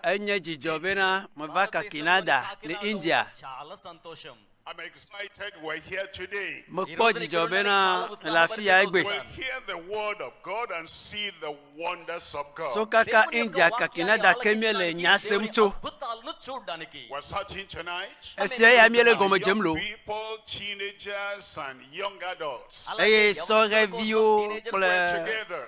Enye dzidzɔ bena meva Kakinada le India. Mekpɔ dzidzɔ bena mele afi ya egbe. So kaka India Kakinada ke míele nya sem tso. Efia ya míele gɔme dzem lo. Eye sɔhɛviwo kple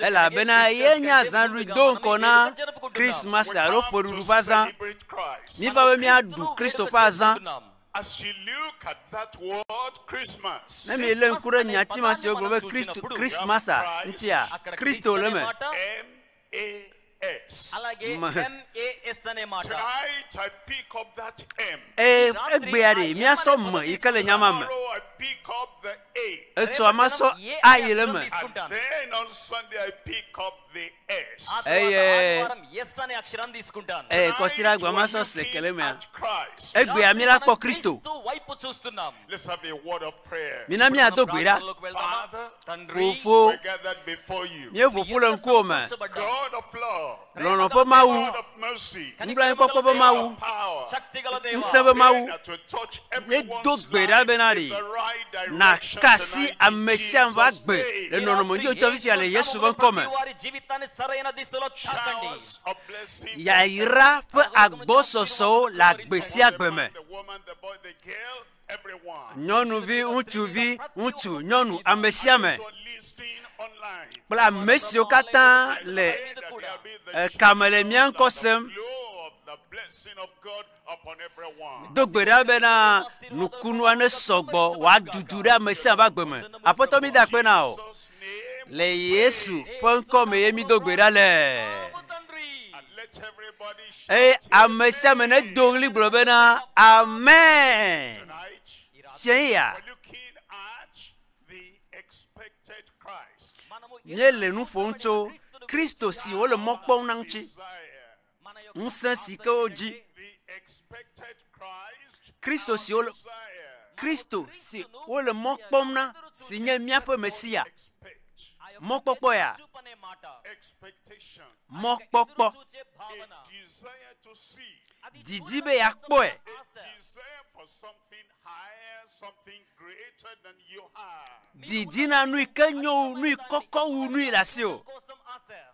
Elabena ye nye azãɖuɖu do ŋkɔ na Christmas alo ƒeɖuɖu ƒe azã. Miva be miaɖu Kristo ƒe azã. Ne mielé ŋku ɖe nyati ma si wogblɔ be Christmas ŋutia, Kristo le eme. Eye egbea ɖe míasɔ me yi ke le nya ma me. Etsɔa masɔ a yi le me. Eye eye kɔsira gba masɔ se ke le mea. Egbea mi la kpɔ Kristo. Mina míado gbe ɖa. Fofo, míeƒo ƒu le ŋkuwò me. Lɔlɔ̃ ƒe Mawu, nublanuikpɔkpɔ ƒe Mawu, ŋusẽ ƒe Mawu, míedo gbe ɖa bena ɖi nàka asi ame sia ame ƒe agbe le nɔnɔme nyui ŋutɔ fifia le Yesu ƒe ŋkɔ me. Yayra ƒe agbɔsɔsɔwo le agbe sia agbe me. nyɔnuvi, ŋutsuvi, ŋutsu, nyɔnu, ame sia ame kple ame siwo katã le ekame le mía ŋkɔ sem. Do gbe ɖa bena nukunua ne sɔgbɔ wòadudu ɖe ame sia ame agbe me. Aƒetɔ mi da akpe na o. Le Yesu ƒe ŋkɔ me ye mi do gbe ɖa le. Eye ame sia ame nedo ɣli gblɔ bena, Amen! Tsɛe ya. Míele nu ƒom tso Kristo si wole mɔ kpɔm na ŋuti. Ŋusẽ si ke wodzi. Kristo si wole, Kristo si wole mɔ kpɔm na, si nye míaƒe Mesia. Mɔkpɔkpɔ ya, mɔkpɔkpɔ, didi be yeakpɔe. Didi na nui ke nyo wu nui kɔkɔ wu nui le asiwò.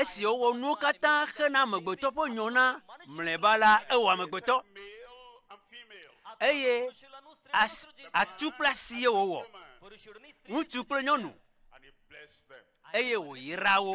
Esi wowɔ nuwo katã hena amegbetɔ ƒe nyɔ na mlɔeba la, ewɔ amegbetɔ. Eye atu kple asi ye wowɔ, ŋutsu kple nyɔnu, eye wòyra wo.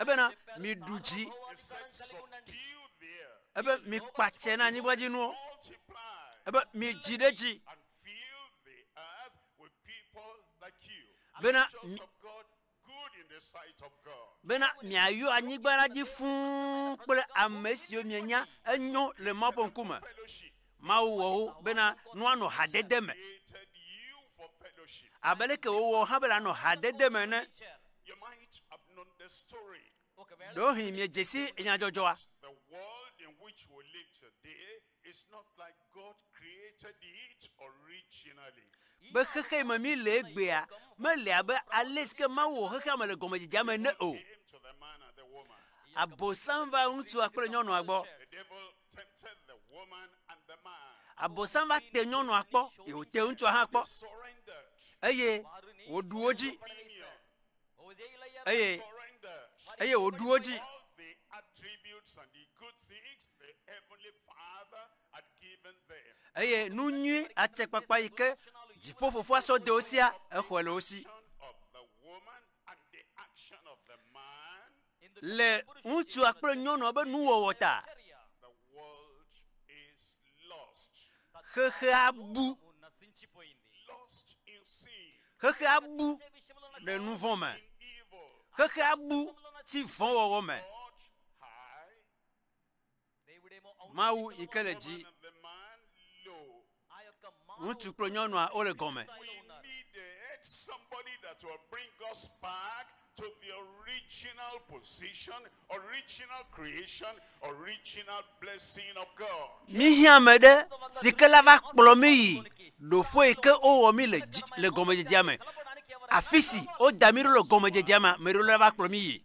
Ebena miɖu dzi. Ebe mikpatse na anyigba dzi nuwo. Ebe midzi ɖe dzi. Bena bena miayɔ anyigba la dzi fũu kple ame siwo mienya enyo le Mawu ƒe ŋkume. Mawu wɔ wo bena woanɔ hadede me, abe leke wòwɔ wò hã be nànɔ hadede me ene. Ɖewohĩ miedze si nyadzɔdzɔa. Be xexea yi me míele egbea mele abe ale si ke Mawu wɔ xexea me le gɔmedzedzea me ene o. Abosam va ŋutsua kple nyɔnua gbɔ. Abosam va te nyɔnua kpɔ, ye wòte ŋutsua hã kpɔ, eye wòɖu wo dzi, eye eye wòɖu wo dzi. Eye nu nyui atsekpakpa yi ke dziƒo fofoa sɔ de wo sia, exɔe le wo si. le ŋutsua kple nyɔnua be nuwɔwɔ ta. Xexea bu. Xexea bu le nuvɔ̃ me. Xexea bu ti vɔ̃wɔwɔ me. Mawu yi ke le dzi. Ŋutsu kple nyɔnua wole gɔme. Míhiã ame ɖe si ke la va kplɔ mí yi ɖoƒe yi ke wowɔ mí le dzi le gɔmedzedzea me. Afi si woda mí ɖo le gɔmedzedzea me, ame ɖewo la va kplɔ mí yi.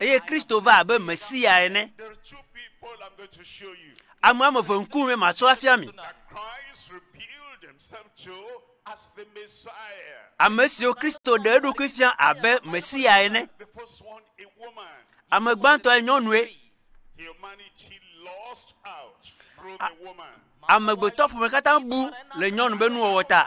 Eye Kristo va abe Mesia ene. Ame woame eve ŋkume matsɔ afia mi. Ame siwo Kristo ɖe eɖokui fia abe Mesia ene. Ame gbãtɔe nyɔnue. Amegbetɔ ƒome katã bu le nyɔnu be nuwɔwɔ ta.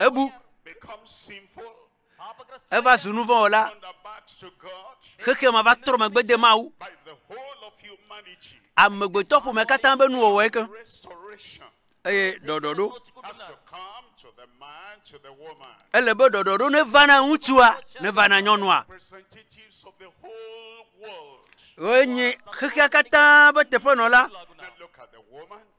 Ebu eva zu nu vɔ̃ wɔla. Xexea me va trɔ megbe de Mawu. Amegbetɔ ƒome katã be nuwɔwɔe ke. Eye ɖɔɖɔɖo. Ele be ɖɔɖɔɖo neva na ŋutsua, neva na nyɔnua. Woe nye xexea katã be teƒenɔla.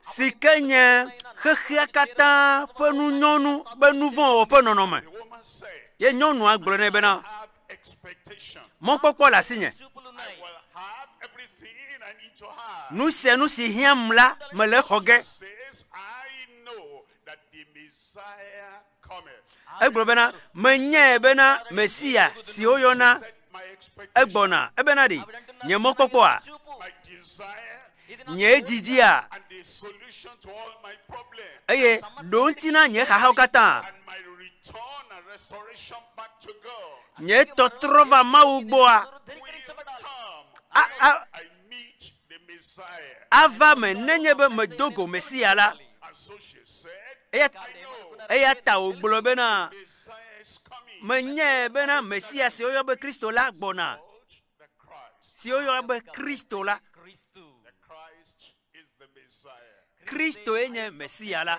si ke nye xexea katã ƒe nu nyɔnu be nu vɔ̃ wɔ ƒe nɔnɔme. Ye nyɔnua gblɔ nɛ bena, mɔkpɔkpɔ le asinye. Nu sia nu si hiãm la, mele exɔ ge. Egblɔ bena, Menyae bena Mesia si woyɔna egbɔna, ebena ɖe nye mɔkpɔkpɔa, nye dzidzia, eye ɖo ŋuti na nye xaxawo katã. Nye tɔtrɔ va Mawu gbɔa, ava eme nenye be medo go Mesia la. Eya ta wògblɔ bena, menyae bena Mesia si woyɔ be Kristo la gbɔna, si woyɔ be Kristo la. Kristoe nye Mesia la.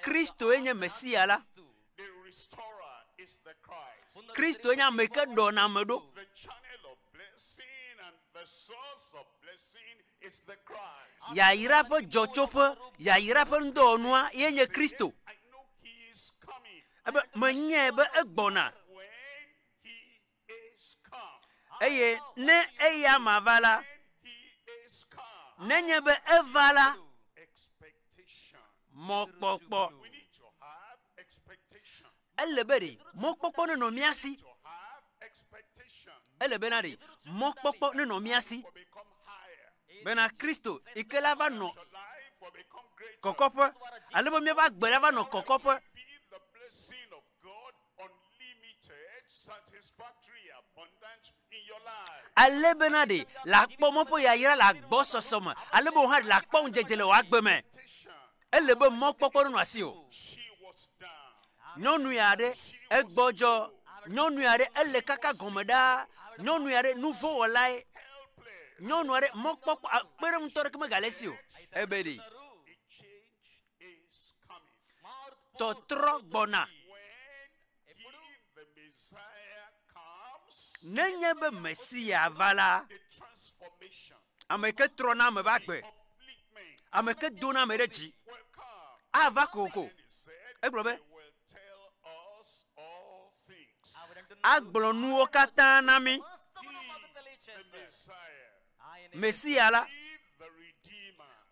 Kristoe nye Mesia la. Kristoe nye ame ke ɖɔna ame ɖo. Yayra ƒe dzɔtsoƒe, yayra ƒe ŋudɔwɔnua ye nye Kristo. Ebe menyae be egbɔna. Eye ne eya ma va la, nenye be eva la, mɔkpɔkpɔ. Ele be ɖe mɔkpɔkpɔ nenɔ mía si. Ele bena ɖe mɔkpɔkpɔ nenɔ mía si. Bena Kristo yi ke la va nɔ kɔkɔƒe, ale be míaƒe agbe la va nɔ kɔkɔƒe. ale bena ɖe làkpɔ mɔ ƒe yayra le agbɔsɔsɔ me ale be wò hã ɖe làkpɔ ŋudzedze le wò agbe me. Ele be mɔkpɔkpɔ nenɔ asiwò. Nyɔnu ya aɖe, egbɔdzɔ. Nyɔnu ya aɖe, ele kaka gɔme ɖaa. Nyɔnu ya aɖe, nuvɔ̃wɔlae. Nyɔnu aɖe, mɔkpɔkpɔ, kpeɖeŋutɔ aɖeke megale esi o. Ebedi. tɔtrɔ gbɔna. Nenye be Mesia va la, ame ke trɔna ame ƒe agbe, ame ke dona ame ɖe dzi ava kokoko. Egblɔ be, agblɔ nuwo katã na mí. Mesia la,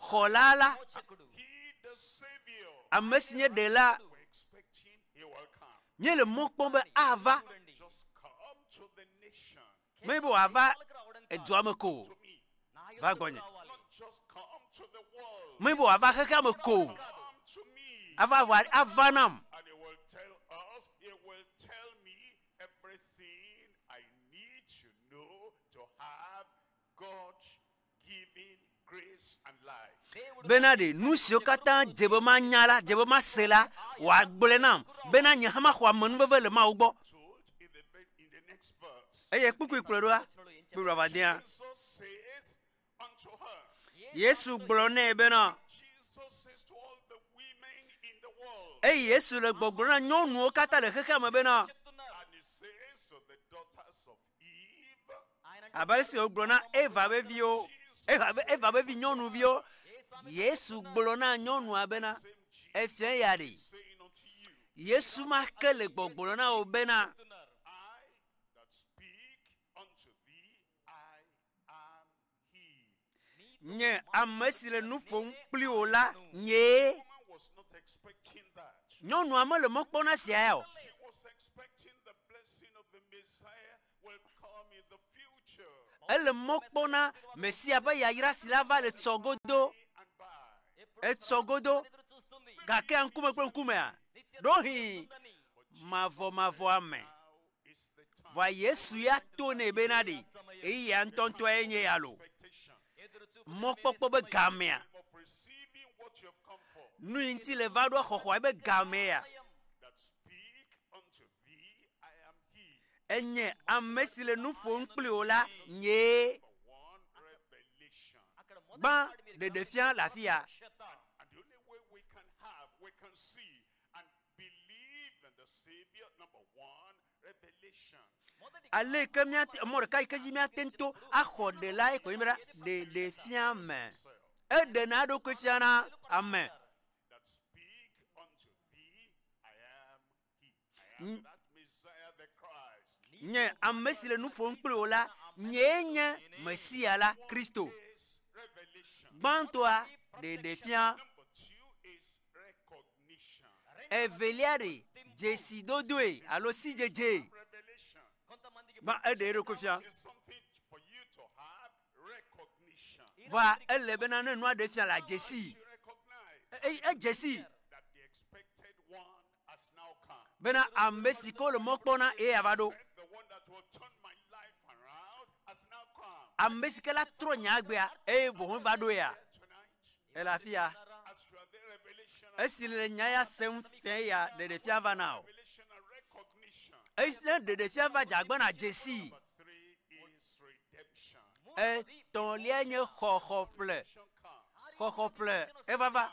Xɔla la, ame si nye Ɖela, míele mɔ kpɔm be ava, menye be wòava edua me ko o, va gbɔnye, menye be wòava xexea me ko o, ava, ava nam. Everything I need to know to have God given grace and life. Bena ɖe nu siwo katã dze be manya la, dze be mase la, wòagblɔe nam, bena nye hã maxɔ amenuveve le Mawu gbɔ. Told in the, ve- in the next verse. Eye kpukpui kplɔe ɖoa, kpukpui vavadea. Jesus says, Yesu gblɔ nɛ bena, eye Yesu le gbɔgblɔ na nyɔnuwo katã le xexea me bena, abe ale si wògblɔ na Eva ƒe viwo, Eva ƒe Eva ƒe vi nyɔnuviwo, Yesu gblɔ na nyɔnua bena, efia ya ɖe. Yesu ma ke le gbɔgblɔ na wò bena, Nye ame si le nu ƒom kpli wò la, nyee. Nyɔnua mele mɔ kpɔm na sia ya o. Ele mɔ kpɔm na Mesia ƒe yayra si ava le tsɔ godo. Etsɔ godo. Gakea ŋkume kple ŋkumea? Ɖohĩ mavɔmavɔa me. Vɔa Yesu ya to nɛ bena ɖe ɣeyiɣia ŋutɔŋutɔe nye ya loo. Mɔkpɔkpɔ be gamea, nui ŋuti le va ɖoa xɔxɔa ebe gamee ya? Enye amesi le nuƒom kpli wò la nyee. Gbã ɖeɖefia le afiya. Aleke míate, mɔ ɖeka yike dzi míate ŋu to axɔ ɖela yike wònye be ɖa, ɖeɖe fia me. Eɖena eɖokui fiana ame. Nye ame si le nu ƒom kpli wò la, nyee nye Mesia la, Kristo. Gbãtɔa, ɖeɖefia. Evelia ɖe dzesidodoe alo sidzedzee va eɖe eɖokui fia. Vɔa ele bena ne nua ɖe fia la dzesi. Eye edzesi bena ame si ke wole mɔ kpɔm na ye ava ɖo. Ame si ke la trɔ nye agbea eye vɔvɔ̃ va ɖo ya ele afi ya. Esi le nya ya sem fia ya ɖeɖefia va na o. Esi ne ɖeɖefia va dze agbe na dzesi. Etɔ̃lia nye xɔxɔƒle. Xɔxɔƒle evava.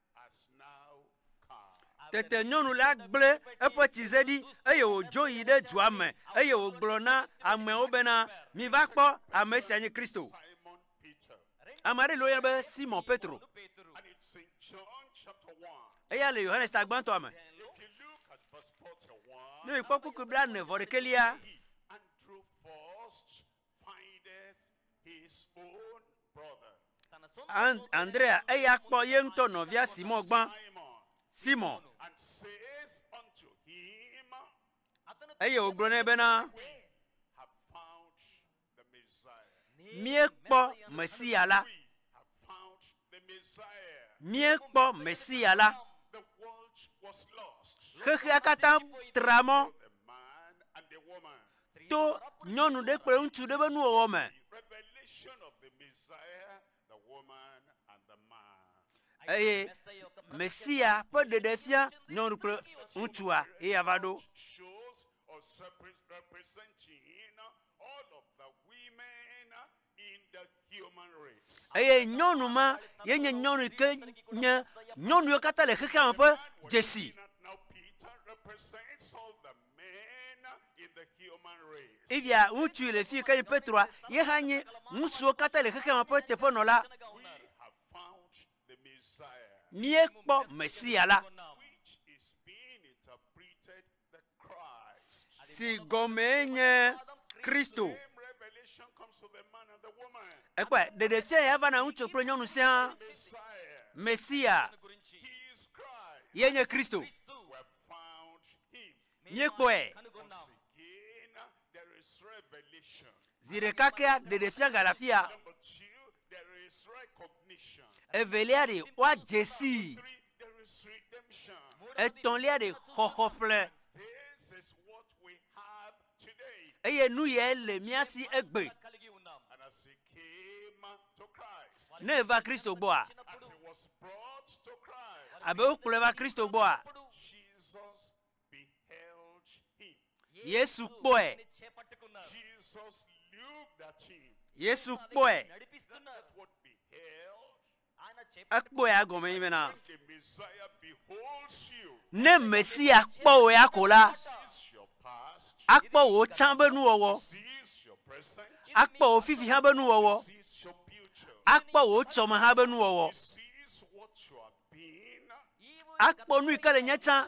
Tete nyɔnu la gblẽ eƒe tsize ɖi, eye wòdzo yi ɖe dua me, eye wògblɔ na ameawo bena, Miva kpɔ, ame sia nye Kristo. Ame aɖe li woyɔna be Simɔ Petro. Eya le Yohanes Tagbãtɔa me. Ne miekpɔ kpukpui blaene vɔ ɖekɛlia, Andrea, eya kpɔ ye ŋutɔ nɔvia Simɔ gbã. Simɔ. Eye wògblɔ nɛ bena, míekpɔ Mesia la. míekpɔ Mesia la, xexea katã tra mɔ to nyɔnu ɖe kple ŋutsu ɖe ƒe nuwɔwɔ me. Eye Mesia ƒe ɖeɖefia nyɔnu kple ŋutsua ye yava ɖo. eye nyɔnu ma ye nye nyɔnu yi ke nye nyɔnuwo katã le xexea me ƒe dzesi. Evia ŋutsu le fi ke nye Petroa ye hã nye ŋutsuwo katã le xexea me ƒe teƒenɔla. Míekpɔ Mesia la. si gɔmee nye Kristo. Ekpɔe, ɖeɖefia ya va na ŋutsu kple nyɔnu sia Mesia ye nye Kristo. Míekpɔe. Zi ɖeka kea ɖeɖefia gale afia. Evelia ɖe woadze sii. Etɔ̃lia ɖe xɔxɔ ƒle. Eye nu yae le mía si egbe. Ne eva Kristo gbɔa? Abe wokplɔe va Kristo gbɔa? Yesu kpɔe. Yesu kpɔe. Ekpɔe agɔme yi bena ne Mesia kpɔ wò ya ko la, akpɔ wò tsã be nuwɔwɔ, akpɔ wò fifi hã be nuwɔwɔ, akpɔ wò tsɔme hã be nuwɔwɔ. Akpɔ nu yi ke le nye tsã.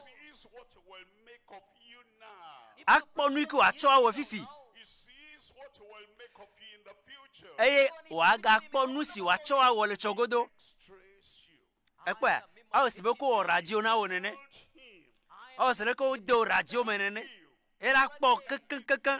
Akpɔ nu yi ke wòatsɔ awɔe fifi. Eye wòagakpɔ nu si wòatsɔ awɔ le tsɔgodo. Èkpɔea? Ewɔ si be wokɔ wɔ radio na wò nene. Ewɔ se leke wode wò radio me nene. Eye la kpɔ kekeŋkekeŋ.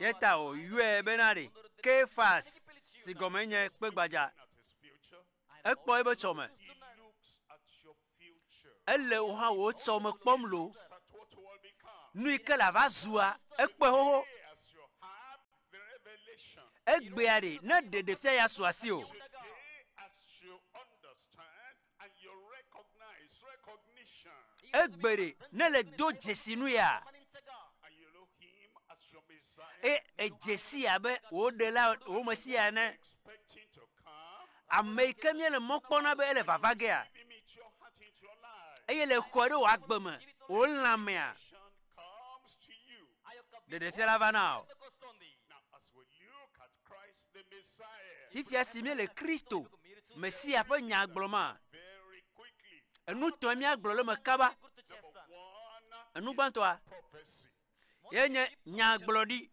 Ye ta wòyɔe bena ɖe Kephas, si gɔmee nye Kpegbadza. Ekpɔ eƒe tsɔme. Ele wò hã wò tsɔme kpɔm loo. Nu yi ke lava zua, ekpɔe xoxo. Egbea ɖe, ne ɖeɖefia ya su asiwò, Egbeɖe ne le do dzesi nu ya, eye edze sii abe wò Ɖela, wò Mesia ene. Ame yi ke míele mɔ kpɔm na be ele vava gea, eye le xɔe ɖe wò agbe me, wò lãmea, ɖeɖefiala va na o. Fifia si míele Kristo, Mesia ƒe nya gblɔ ma, enu tɔe míagblɔ le me kaba. Enu gbãtɔa, ye nye nyagblɔɖi.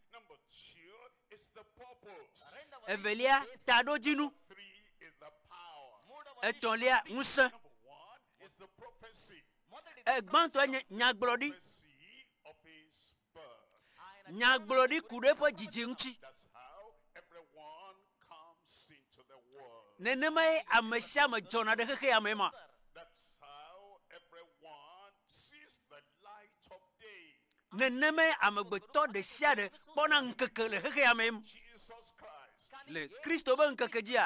Evelia, taɖodzinu. Etɔ̃lia, ŋusẽ. Egbãtɔe nye nyagblɔɖi. Nyagblɔɖi ku ɖe eƒe dzidzi ŋuti. Nenemae ame sia ame dzɔna ɖe xexea me ma. Nenemae amegbetɔ ɖe sia ɖe kpɔna ŋkeke le xexea me le Kristo be ŋkeke dzia.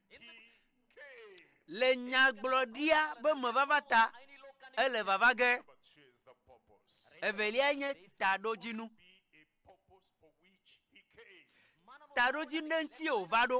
Le nyagblɔɖia be mevava ta, ele vava ge. Evelia nye taɖodzinu. Taɖodzinu ɖe ŋutie wòva ɖo.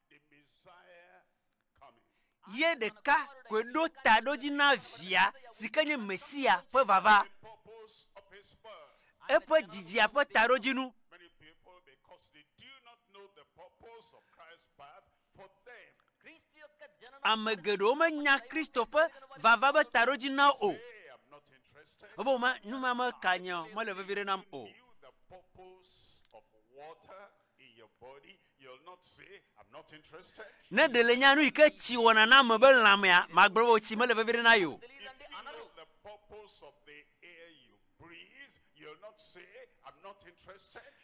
Ye ɖeka koe ɖo ta ɖo edzi na Via, si ke nye Mesia ƒe vava. Eƒe dzidzia ƒe taɖodzinu. Ame geɖewo menya Kristo ƒe vava ƒe taɖodzina o. Wobe woma, numame ka nye mele vevi ɖe nam o. Ne ɖe le nya nu yi ke tsi wɔna na ame be lãmea, magblɔ be tsi mele vevi ɖe na yewo.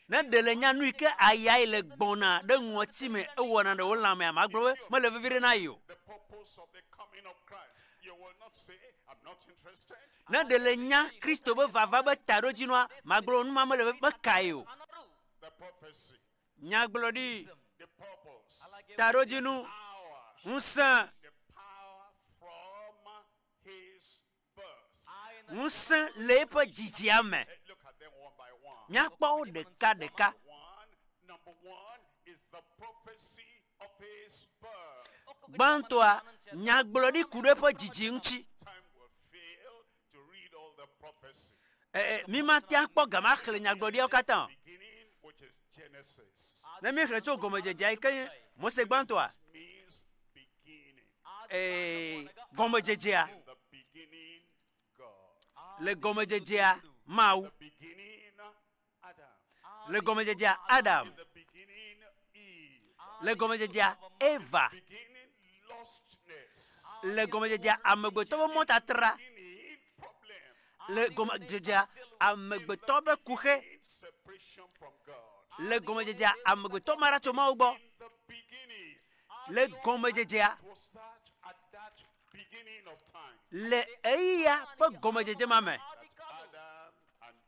Ne ɖe le nya nu yi ke aya yi le gbɔna ɖe ŋɔti me ewɔna ɖe wo lãmea, magblɔ be mele vevi ɖe na yewo. Ne ɖe le nya Kristo be vava be taɖodzinua, magblɔ be nu ma mele meka yewo. nyagblɔɖi, taɖodzinu, ŋusẽ, ŋusẽ le eƒe dzidzia me. Míakpɔ wo ɖekaɖeka. Gbãtɔa, nyagblɔɖi ku ɖe eƒe dzidzi ŋuti. Ɛɛ, mímate ŋu akpɔ gama axlẽ nyagblɔɖiawo katã o. Ne míexlẽ tso gɔmedzedzea yi ke nye Mose gbãtɔa, ɛɛ, gɔmedzedzea, le gɔmedzedzea, Mawu. Le gɔmedzedzea Adam, le gɔmedzedzea Eva, le gɔmedzedzea amegbetɔ ƒe mɔtatra, le gɔmedzedzea amegbetɔ ƒe kuxe, le gɔmedzedzea amegbetɔ ma tso Mawu gbɔ, le gɔmedzedzea le eya ƒe gɔmedzedze ma me.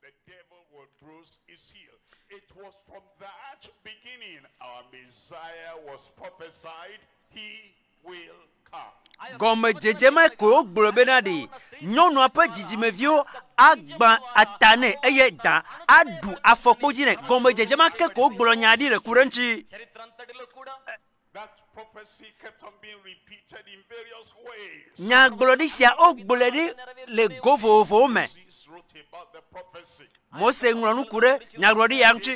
The devil was Bruce Iseel, it was from that beginning our Messiah was prophesied, he will come. Gɔmedzedze mae koe wogblɔ be naɖee, Nyɔnua ƒe dzidzimeviwo agbã ta nɛ, eye da aɖu afɔkpo dzi nɛ. Gɔmedzedze ma ke koe wogblɔ nyaa ɖi le ku ɖe eŋuti. Nyagblɔɖi sia wogblɔe ɖi le go vovovowo me. Mose ŋlɔ nuku ɖe nyagblɔɖi ya ŋuti.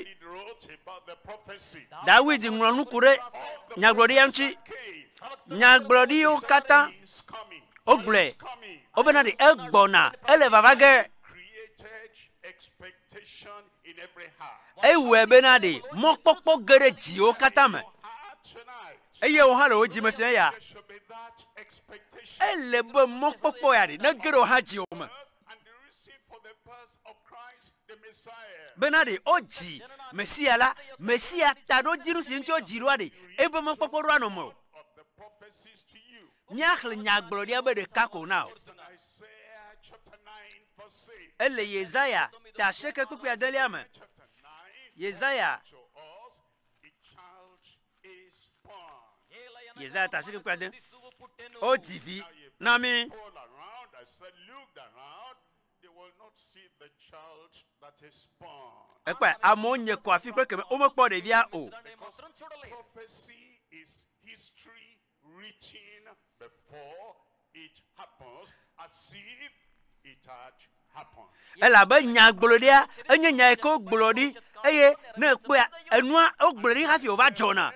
Dawid ŋlɔ nuku ɖe nyagblɔɖi ya ŋuti. Nyagblɔɖiwo katã wogblɔe wobena ɖe egbɔna ele vava ge. Ewɔe bena ɖe mɔkpɔkpɔ ge ɖe dziwo katã me, eye wò hã le wò dzi me fia ya. Ele be mɔkpɔkpɔ ya ɖe nege ɖe wò hã dziwò me. bena ɖe wodzi Mesia la, Mesia taɖodzinu si ŋuti wodzi ɖoa ɖe eƒe mɔkpɔkpɔ ɖoa nɔ mewò. Míaxlẽ nyagblɔɖia be ɖeka ko na wò. Ele Yesaya ta asieke kpukpui adelia me. Yesaya, Yesaya ta asieke kpukpui ade. Wodzi vi na mí. Ekpɔe, amewo nye kɔ afi kple kemɛ, womekpɔ ɖevia o. reaching before it happens as if it had happened. Elabe nyagblɔɖia enye nya yi ke wogblɔ ɖi eye ne èkpɔa, enua wogblɔe ɖi hafi wòva dzɔna.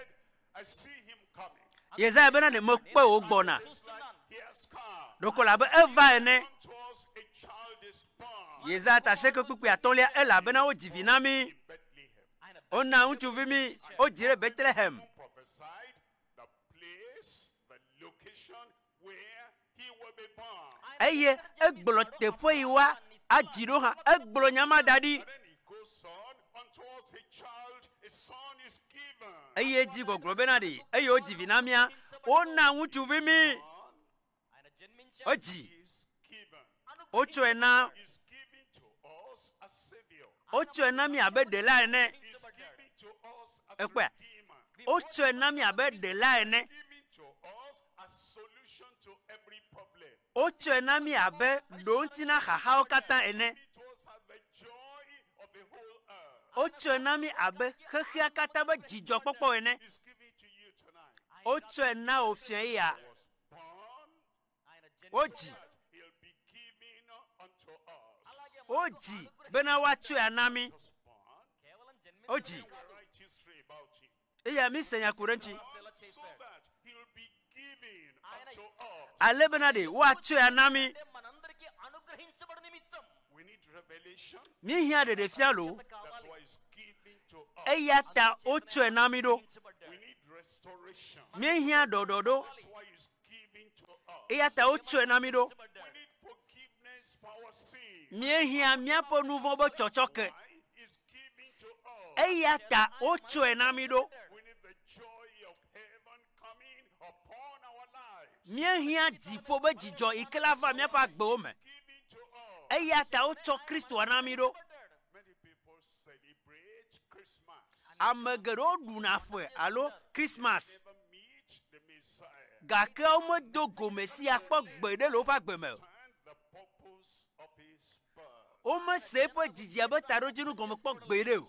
I see him coming. Yesaya bena, Ɖe mekpɔe wògbɔna Just like he has come. ɖeko elabe eva ene. Unto us a child is born Yesaya ta asieke kpukpui atɔ̃lia, Elabena wodzi vi na mí, in Bethlehem. wona ŋutsuvi mí, wodzii ɖe Betlehem. Who prophesied The place, the location where he will be born. eye egblɔ teƒe yi wa adzi ɖo hã. Egblɔ nya ma da ɖi. And then he goes on, Unto us a child, a son is given. Eye edzi gbɔgblɔ bena ɖee, eye wodzi vi na mía, wona ŋutsuvi mí. Son, Edzi wotsɔe na wotsɔe na mi abe ɖela ene. Ekpɔe, wotsɔe na mi abe ɖela ene. Wotsɔe na mi abe ɖoŋti na xaxawo katã ene. Wotsɔe na mi abe xexea katã be dzidzɔkpɔkpɔ ene. Wotsɔe na wò fiae ya Wodzi. Wodzi bena woatsɔe ana mí. Wodzi. Eya mise nya ku ɖe ŋuti. Ale bena ɖe woatsɔe ana mí. Míehiã ɖeɖefia loo, eya ta wotsɔe na mí ɖo. Míehiã ɖɔɖɔɖo, eya ta wotsɔe na mí ɖo. Míehiã míaƒe nu vɔ̃ be tsɔtsɔke, eya ta wotsɔe na mí ɖo. Míehiã dziƒo be dzidzɔ yi ke la va míaƒe agbewo me. Eya ta wotsɔ Kristoa na mí ɖo. Ame geɖewo ɖuna ƒe alo Kristmas, gake womedo go Mesia kpɔ gbeɖe le woƒe agbe me o. Womese eƒe dzidzia ƒe taɖodzinu gɔme kpɔ gbeɖe o.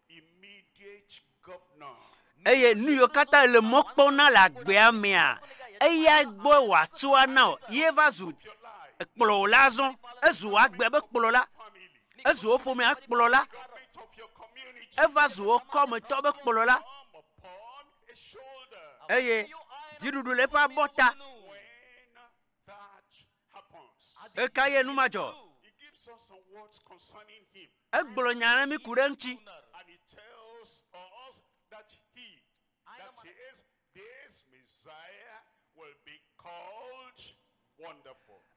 Eye nuyiwo katã èle mɔ kpɔm na le agbea mea, eya gbɔe wòatso ana wò. Ye va zu kplɔla azɔ. Ezu wò agbea be kplɔla. Ezu wò ƒomea kplɔla. Eva zu wò kɔmetɔ be kplɔla. Eye dziɖuɖu le eƒe abɔta. Ɣekaɣie nu ma dzɔ? Egblɔ nya aɖe mí ku ɖe eŋuti.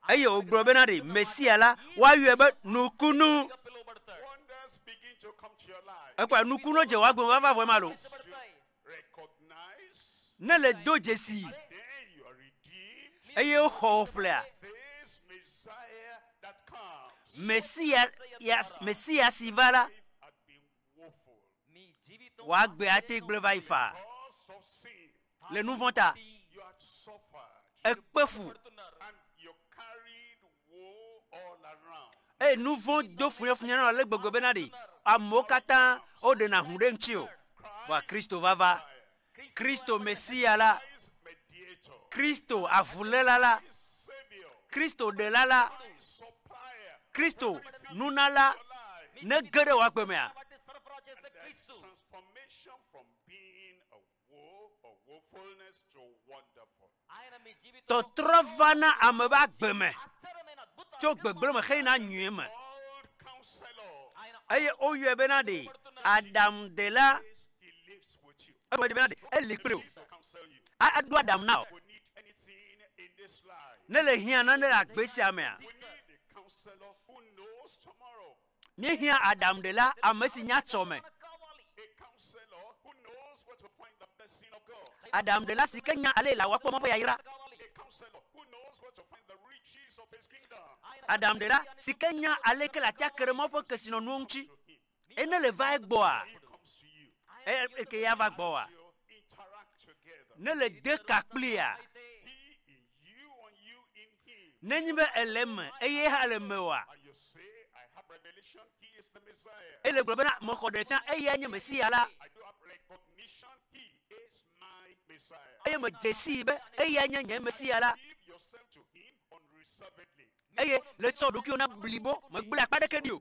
Eye wògblɔ bena ɖe Mesia la, woayɔe be nukunu. Ekpɔe nukunu dze wòagbe vavavɔe ma lo. ne le do dzesii, eye woxɔ wò ƒlea, Mesia, yas, Mesia si va la, wòagbe ate gblẽ va yi faa le nu vɔ̃ ta. Ekpe fu. eye nu vɔ̃ do funyafunya na wò ale gbegbe bena ɖi amewo katã woɖena ŋu ɖe ŋutiwò. Vɔa Kristo vava, Kristo Mesia la, Kristo avuléla la, Kristo ɖela la, Kristo nunala nege ɖe wò agbe mea, Tɔtrɔ va na ame ƒe agbe me tso gbegblẽ me heyina nyui me, eye woyɔe bena ɖee aɖaŋudela eƒe bena ɖe eli kple wò aɖo aɖaŋu na wò ne le hiã nane le agbe sia mea. Míehiã aɖaŋuɖela ame si nya tsɔ me. Aɖaŋuɖela si ke nya ale laa woakpɔ Mawu ƒe yayra. Aɖaŋuɖela si ke nya ale ke latia ke ɖe Mawu ƒe kesinɔnuwo ŋuti. Eye ne le va egbɔa, eye ke ya va gbɔa, ne le de ka kplia, Nenye be èle eme eye eya hã le mewòa? Ele gblɔ bena, Mexɔ ɖe fia, eyae nye Mesia la. Eye medze sii be eyae nye nye Mesia la. Eye le tsɔ ɖokuiwò na blibo, megblẽ akpa aɖeke ɖi o.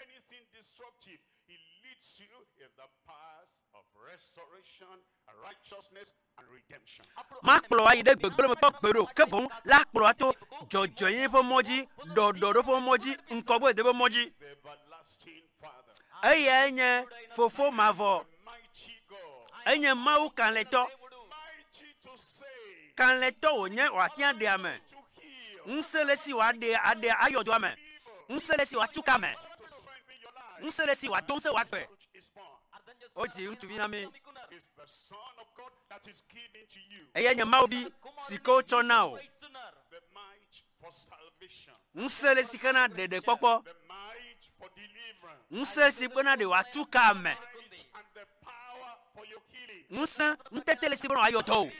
Anything destructive, it leads you in the path of restoration, righteousness and redemption. Makplɔ wo ayi ɖe gbegblẽ me kpɔ gbeɖe o, ke boŋ le akplɔ wo ato dzɔdzɔenyenye ƒe mɔ dzi, ɖɔɖɔɖo ƒe mɔ dzi, ŋkɔgbededeƒe mɔ dzi. He's the everlasting Father. Eyae nye Fofo mavɔ. Enye Mawu kalẽtɔ. Kalẽtɔ wònye wòate ŋu aɖe ame. Ŋusẽ le esi wòaɖe aɖe ayɔ dɔa me. Ŋusẽ le esi wòatu ke ame. Ŋusẽ le esi wòado ŋusẽ wòagbe. Wodzi ŋutsuvi na mí. Eye nye Mawu Vi si ke wotsɔ na wò. Ŋusẽ le si xe na ɖeɖekpɔkpɔ. Ŋusẽ si bena ɖe wòatu ka ame. Ŋusẽ, ŋutete le si bena wòayɔ dɔ wò.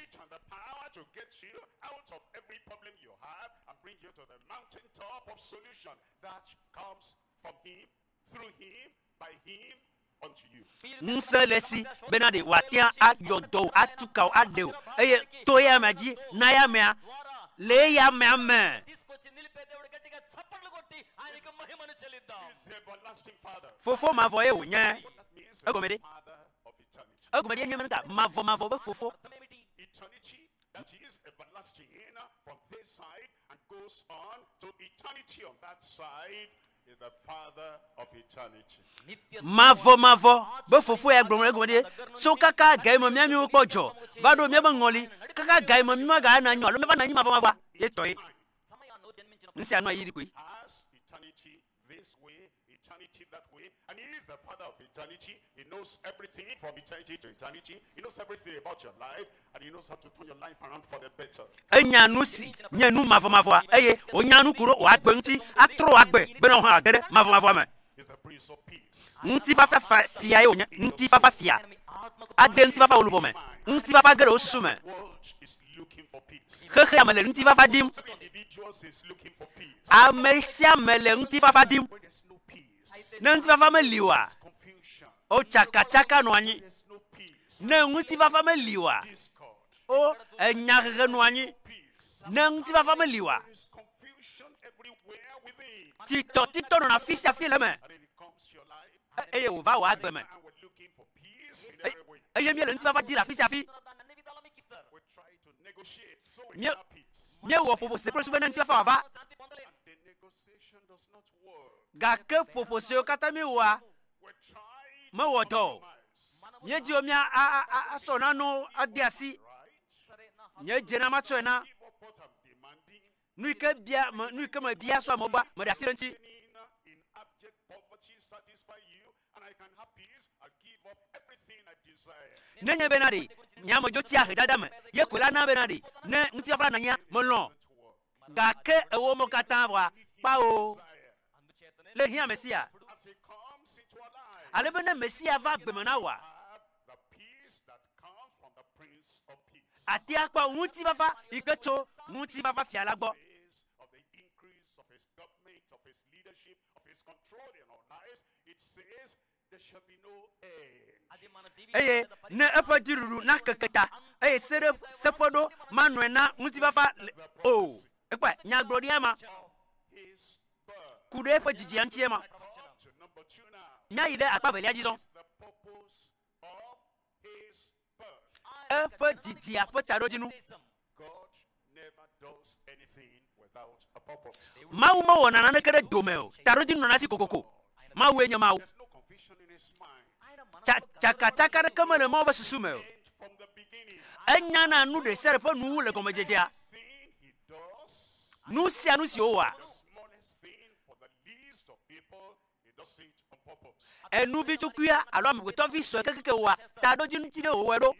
Ŋusẽ le esi bena ɖe wòatea ayɔ dɔ wò, atu ka wò, aɖe wò, eye to eya amea dzi na eya amea le eya amea me. Fofo mavɔ ye wònye. Egɔme ɖe? Egɔme ɖee nye be nuka? Mavɔmavɔ be Fofo. Mavɔmavɔ be Fofo ya gblɔ nu ɖe egɔme ɖi tso kaka gaye me mía miwo kpɔ dzɔ va ɖo míaƒe ŋɔli, kaka gaye me mí maga ana nyɔ alo míava na anyi mavɔmavɔa ye tɔe. Nusia nɔa ɣeyiɣi koe. Enya nusi nye nu mavɔmavɔa eye wònya nuku ɖo wòagbe eŋuti atrɔ wò agbe bene wohã wòage ɖe mavɔmavɔa me. Ŋutifafa fiae wònye, ŋutifafa fia. Ade ŋutifafa wò luʋɔ me. Ŋutifafa ge ɖe wò susu me. Xexea me le ŋutifafa dim. Ame sia ame le ŋutifafa dim. Ne ŋutifafa meli oa, o tsakatsaka nɔa anyi. Ne ŋutifafa meli oa, o enyahehe nɔa anyi. Ne ŋutifafa meli oa, titɔtitɔ nɔna afi sia afi le eme, eye wòva wòa agbe me. Eye míele ŋutifafa di le afi sia afi. Míewɔ ƒoƒo se kple susu be ne ŋutifafa wòava. Gake ƒoƒo siwo katã míewɔa mewɔ dɔ o. Míedi be míasɔ nanewo ade asi. Nye dze na matsɔe na nu yi ke bia, nu yi ke mebia sɔ amewo gbɔa, meɖe asi ɖe eŋuti. Nenye be naɖee nye ame dzo tsia ahedada me ye koe la na be naɖee ne ŋutifafa nanyia, melɔ̃. Gake ewɔmɔ katã vɔa kpao le hiã Mesia. Ale be ne Mesia va gbe me na wòa, àte akpɔ ŋutifafa yi ke tso Ŋutifafafia la gbɔ. eye ne eƒe dziɖuɖu nakeke ta, eye seɖe, seƒeɖo manɔe na ŋutifafa le o. Ekpɔe, nyagblɔɖiae ma, ku ɖe eƒe dzidzia ŋutie ma. Míayi ɖe akpa evelia dzi zɔ. Eƒe didia ƒe taɖodzinu. Mawu mewɔna naneke ɖe dome o. Taɖodzinu nɔna esi kokoko. Mawue nye Mawu. Tsa, tsakatsaka aɖeke mele Mawu ƒe susu me o. Enyana nu ɖe sia ɖe ƒe nuwuwu le gɔmedzedzea. Nu sia nu si wòwɔa. Enuvitsukuia alo amegbetɔvi sue kekeake wɔa taɖodzinu ti ɖe wòwɔe ɖo.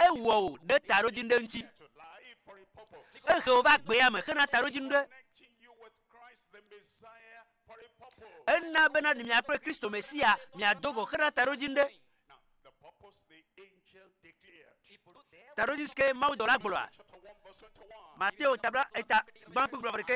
Ewɔ wò ɖe taɖodzinu ɖe ŋuti. Ehe wò va gbea me hena taɖodzinu ɖe. Ena be nàɖu mia kple Kristo Mesia miado go hena taɖodzinu ɖe. Taɖodzinu si ke mawudɔla gblɔa, Mateo tabla eta gbã kple blɔ vɔ ɖekɛ.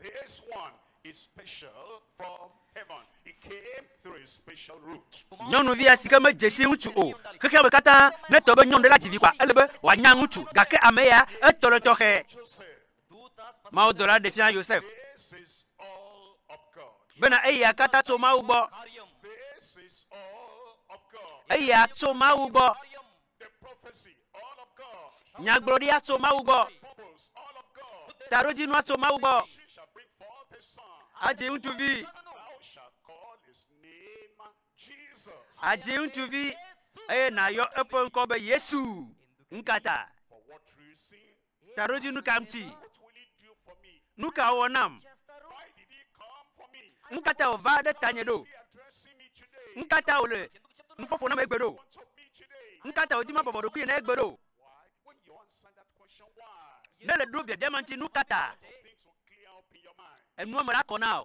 This one is special from heaven, it came through a special route. Nyɔnuvia si ke medze si ŋutsu o. Xexea me katã, ne etɔ be nyɔnu ɖe la dzi vi koa, ele be wòanya ŋutsu. Gake ame ya, etɔ ɖe tɔxɛ. Mawudɔla ɖe fia Yosef bena eya katã tso Mawu gbɔ. Eya tso Mawu gbɔ. Nyagblɔɖia tso Mawu gbɔ. Taɖodzinua tso Mawu gbɔ. Adzi ŋutsuvi. Adzi ŋutsuvi eye nàyɔ eƒe ŋkɔ be Yesu. Nukata? Taɖodzinu ka ŋuti? Nu ka wòwɔ nam? Nu ka ta wòva ɖe tanye ɖo? Nu ka ta wòle nuƒoƒo nam egbea ɖo? Nu ka ta wòdi mabɔbɔ ɖokuinye na egbea ɖo? Ne èle ɖo biabia ma ŋuti, nu ka ta? Enua me la kɔ na wò.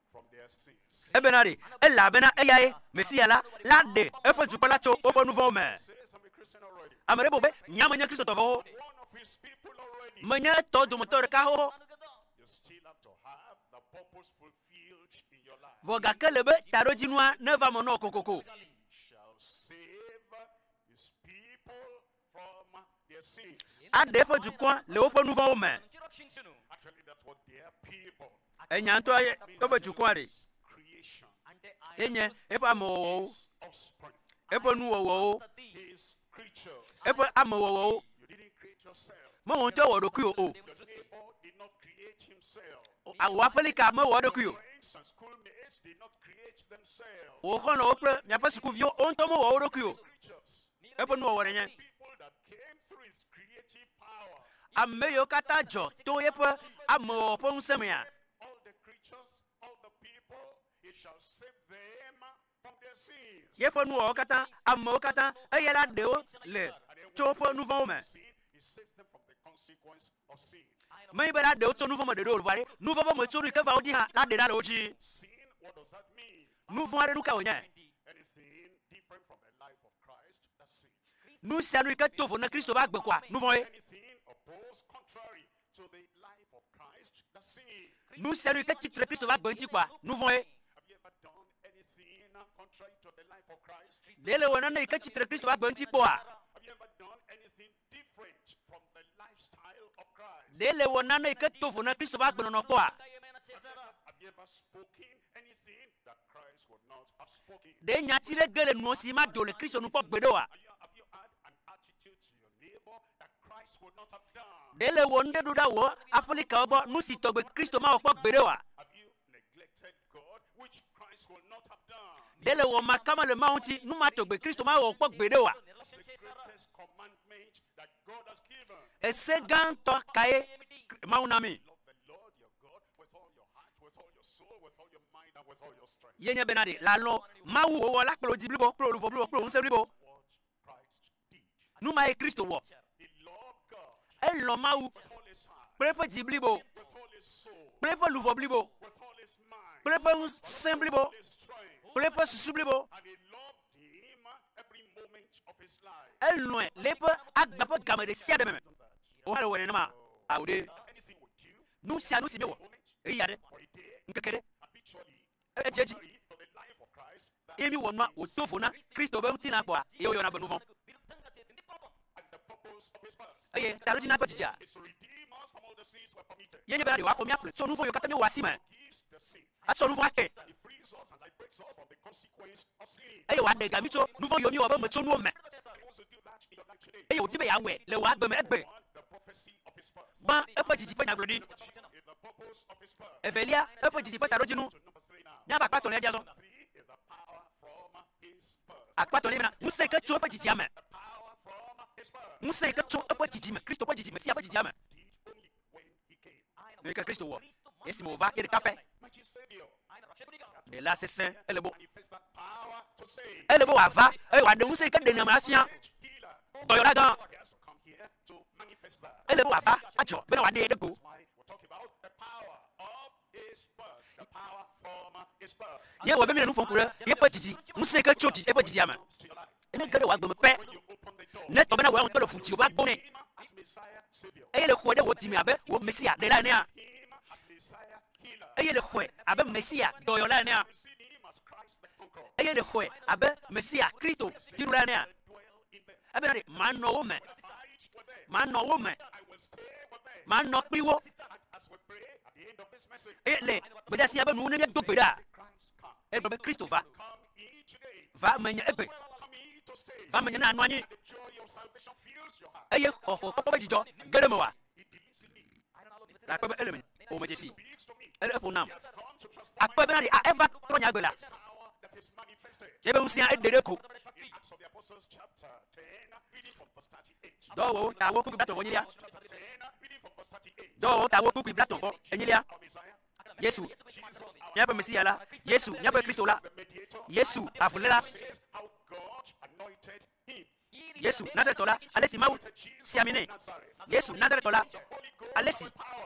Ebena ɖe ele abe na eyae, Mesia la, la aɖe eƒe dukɔ la tso woƒe nu vɔ̃wo me. Ame ɖe bua be, Nya menye Kristotɔ vɔ̃wo. Menye etɔwo dometɔ ɖeka wo. Vɔ gake ele be taɖodzinua neva me nɔ wò kokoko. Aɖe eƒe dukɔa le woƒe nu vɔ̃wo me. Enya ŋutɔ ye woƒe dukɔa ɖi. Ye nye eƒe amewɔwɔwo, eƒe nuwɔwɔwo, eƒe amewɔwɔwo. Mewɔ ŋutɔ ewɔ ɖokuiwò o. Wò aƒelika mewɔ eɖokui o. Wò xɔlɔ̃wo kple miaƒe sukuviwo wo ŋutɔ mewɔ wo ɖokui o. eƒe nuwɔwɔ nenye. Ame yiwo katã dzɔ to yeƒe amewɔwɔ ƒe ŋusẽ mea, yeƒe nuwɔwɔ katã, amewo katã, eya la ɖe wo le tso woƒe nu vɔ̃wo me. Menye be la ɖe wo tso nu vɔ̃ me ɖeɖe o, vɔ aɖe nu vɔ̃ ƒe metsonu yi ke va wo dzi hã la ɖe la le wo dzi. Nu vɔ̃ aɖe nu kae wònye? Nu sia nu yi ke to vo na Kristo ƒe agbe koa, nu vɔ̃e. Nu sia nu yi ke tsi tre Kristo ƒe agbe ŋuti koa, nu vɔ̃e. Ɖe le wɔ nane yi ke tsi tre Kristo ƒe agbe ŋuti kpɔa? Ɖe nèwɔ nane yi ke do vo na Kristo ƒe agbenɔnɔ kpɔa? Ɖe nyati ɖe ge le nuwò si made o le Kristo nu kpɔ gbeɖe oa? Ɖe nèwɔ nuɖe ɖo ɖa wò aƒelikawo gbɔ, nu si tɔgbe Kristo mawɔ kpɔ gbeɖe oa? Ɖe le wɔ ma ka mele Mawu ŋuti nu ma tɔgbe Kristo ma wɔ kpɔ gbeɖe oa? Ese gã ŋutɔ kae Mawu na mi? Ye nye bena ɖe làlɔ̃ Mawu wò wɔla kple wò di blibo kple wò luʋɔ blibo kple wò ŋusẽ blibo. Nu mae Kristo wɔ. Elɔ̃ Mawu kple eƒe dzi blibo, kple eƒe luʋɔ blibo, kple eƒe ŋusẽ blibo, kple eƒe susu blibo. Elɔ̃e le eƒe agbe ƒe game ɖe sia ɖe me. Wò hã èwɔe nenema? Ao ɖe! Nu sia nu si nèwɔ ɣeyiɣi aɖe, ŋkeke aɖe, edze edzi eye míwɔ nua wòdo vo na Kristo be ŋutilã kpɔa eye wòyɔna be nuvɔ̃. Eye taɖodzina ƒe dzidzea ye nye bena yewoaxɔ mía kplɔe tso nuvɔ̃ yiwo katã míewɔa si me, atsɔ nuvɔ̃ ake, eye wòaɖe ga mí tso nuvɔ̃ yiwo míewɔ be metsonuwo me. Eye wòdi be yeawɔe le wò agbe me egbe. Gbã, eƒe didi ƒe nyagblɔɖi. Evelia, eƒe didi ƒe taɖodzinu. Míava akpa etɔ̃lia dzi azɔ. Akpa etɔ̃lia bena, Ŋusẽ yi ke tso eƒe didia me. Ŋusẽ yi ke tso eƒe didi me, Kristo ƒe didi, Mesia ƒe didia me. Nu yi ke Kristo wɔ esime wòva ye ɖeka pɛ. Ɖela sesẽ, ele be, ele be wòava eye wòaɖe ŋusẽ yi ke ɖenɛ me afia dɔyɔlagã. Ele be wòava adzɔ bene wòaɖee ɖe go. Ye wɔ be míele nu ƒom ku ɖe yeƒe didi, ŋusẽ yi ke tso didi, eƒe didia me. Ne ge ɖe wò agbe me pɛ, ne etɔ bena wòe ŋutɔ le ʋu dziwò be agbo nɛ, eye le xɔe ɖe wò dime abe wò Mesia, Ɖela enea, eye nèxɔe abe Mesia dɔyɔla enea? Eye nèxɔe abe Mesia, Kristo, dziɖula enea? Ebena ɖe manɔ wo me, manɔ wo me, manɔ kpli wo. Eye le gbedasia be nu ne míedo gbe ɖaa, egblɔ be, Kristo va, va menye egbe, va menye ne anɔ anyi, eye xɔxɔkpɔkpɔ ƒe dzidzɔ ge ɖe mewòa? Nakpɔe be ele menye o medze sii. Eɖe ƒo nam. Akpɔe bena ɖe eva trɔ nye agbe la, eƒe ŋusẽa eɖe ɖe ko. Dɔwɔwɔwo tawo kpukpui blatɔ̃ vɔ enyilia. Dɔwɔwɔwo tawo kpukpui blatɔ̃ vɔ enyilia. Yesu, míaƒe Mesia la, Yesu, míaƒe Kristo la, Yesu, avuléla. Yesu Nazaretɔ la, ale si Mawu si ami nɛ. Yesu Nazaretɔ la, ale si,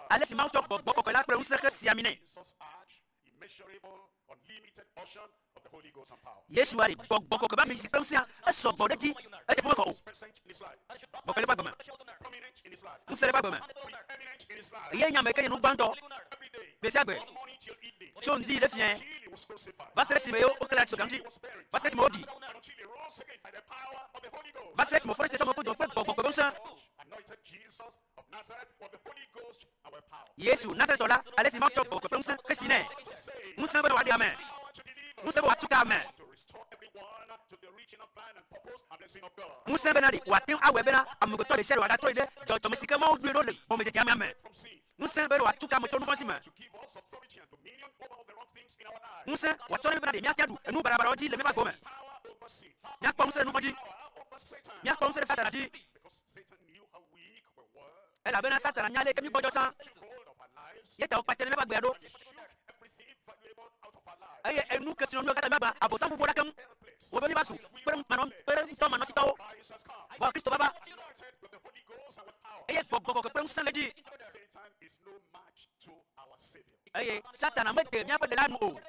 ale si Mawu tsɔ gbɔgbɔ kɔkɔe la kple ŋusẽ hesi ami nɛ. Yesua ɖi gbɔgbɔ kɔkɔe ƒe ami si kple ŋusẽa esɔ gbɔ ɖe edzi, edze ƒome kɔ o. Gbɔgbɔ le eƒe agbe me, ŋusẽ le eƒe agbe me, eyae nye ame ke nye nu gbãtɔ gbe sia gbe tso ŋdi yi ɖe fiẽ va se ɖe esime wokle la tso gamedzi va se ɖe esime woɖii. Va se ɖe esime wofɔe tsetsɔme kodoɔ kple gbɔgbɔ ƒe ŋusẽ. Yesu, Nazaretɔ la, ale si Mawu tsɔ gbɔgbɔ ƒe ŋusẽ xesi nɛ. Ŋusẽ be wòaɖe ame. Ŋusẽ be wòatu ke ame. Ŋusẽ bena ɖe wòate ŋu awɔe bena amegbetɔ ɖesiaɖe wòagatrɔe ɖe dzɔdzɔme si ke Mawu ɖoe ɖo le gɔmedzedzea mea me. ŋusẽ be wòatu ka me tso nu vɔ̃ si me, ŋusẽ wòatsɔ na mí bena ɖe míate aɖu enu baɖabaɖawo dzi le míaƒe agbewo me. Míakpɔ ŋusẽ ɖe nu vɔ̃ dzi. Míakpɔ ŋusẽ ɖe Satana dzi, elabena Satana nya ale yike mígbɔdzɔ tsã, ye ta wòkpatɛnɛ míaƒe agbea ɖo. Eye enu ke si nɔ míawo katã míagbã, Abosam ƒuƒo ɖa keŋ wɔ be míeva zu kpeɖeŋumanɔsitɔwo. Vɔ Kristo vava, eye gbɔgbɔ kɔkɔe kple ŋusẽ le edzi, eye Satana mede míaƒe Ɖela nu o.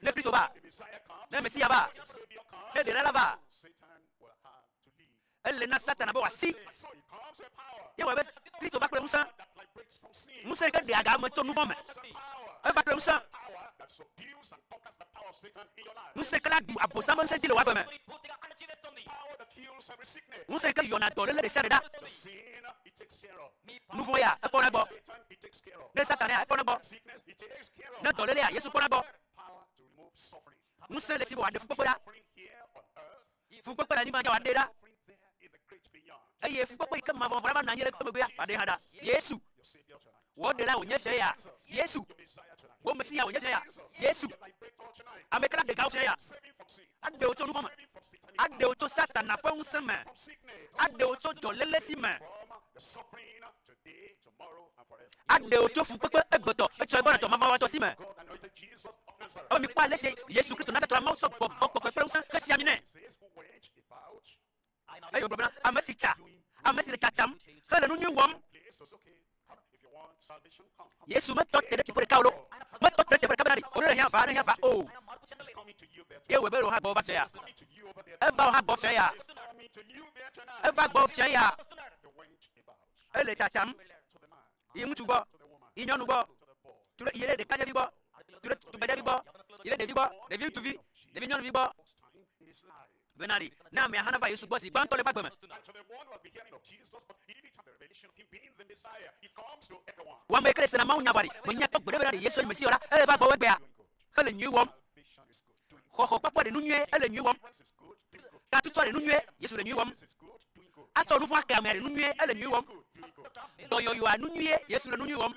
Ne Kristo va, ne Mesia va, ne Ɖela la va, Ele na Satana be wòasi ye. Ewɔe be Kristo va kple ŋusẽ, ŋusẽ yi ke ɖea ga ame tso nuvɔ̃ me. Eva kple ŋusẽ. Ŋusẽkla ɖu Abosam ƒe ŋusẽ dzi le wò agbe me. Ŋusẽ yi ke yɔna dɔléle ɖe sia ɖe ɖa. Nuvɔ̃ ya, ekpɔna egbɔ. Ne Satana ya, ekpɔna egbɔ. Ne dɔlélea, Yesu kpɔna egbɔ. Ŋusẽ le esi be wòaɖe fukpekpe ɖa. Fukpekpe le anyigba dzi wòaɖee ɖa. Eye fukpekpe yi ke mavɔvɔ̃ la va nɔ anyi ɖe ekpe megbea, wòaɖee hã ɖa. Yesu, wò Ɖelae wònye fiae ya? Yesu, wò Mesiyae wònye fiae ya? Yesu, ameke la ɖeka wò fiae ya? Aɖe wò tso nuvɔ̃ me. Aɖe wò tso Satana ƒe ŋusẽ me. Aɖe wò tso dɔlélesi me. aɖe wò tso fukpekpe egbetɔ etsɔegbɔɖetɔ mavɔ̃wɔtɔ si me. Ebe mikpɔ ale si Yesu Kristo Nazaretɔ la Mawu sɔ gbɔgbɔ kɔkɔe kple ŋusẽ xesia mi nɛ. Eye wògblɔ bena, Ame si tsa, ame si le tsatsam hele nu nyui wɔm. Yesu metɔ te ɖe teƒe ɖeka o loo, metɔ te ɖe teƒe ɖeka bena ɖe wòɖo le hiã va, ne hiã va o. Ye wòe be ɖe wòha gbɔwò va fia ya. Eva wò hã gbɔ fia ya. Eva gbɔwò fia ya. Ele tsatsam yi ŋutsu gbɔ, yi nyɔnu gbɔ, tso ɖe yi ɖe ɖekadzevi gbɔ, tso ɖe tugbedzevi gbɔ, yi ɖe ɖevi gbɔ, ɖevi ŋutsuvi, ɖevi nyɔnuvi gbɔ. Bena ɖi ne amea hã nava Yesu gbɔ zi gbãtɔ le eƒe agbe me. Wɔme ke ɖe sena Mawu nya vɔ ɖi, menya kpɔ gbeɖe bena ɖe Yesue nye Mesiya o la, ele va gbɔwò egbea hele nyui wɔm. Xɔxɔ kpɔkpɔ ɖe nu nyuie, ele nyui wɔm. Katutsɔ ɖe nu nyuie, Yesu le nyui wɔm. Atsɔ nu vɔ̃ ake amea ɖe nu nyuie, ele nyui wɔm. Dɔyɔyɔa nu nyuie, Yesu le nu nyui wɔm.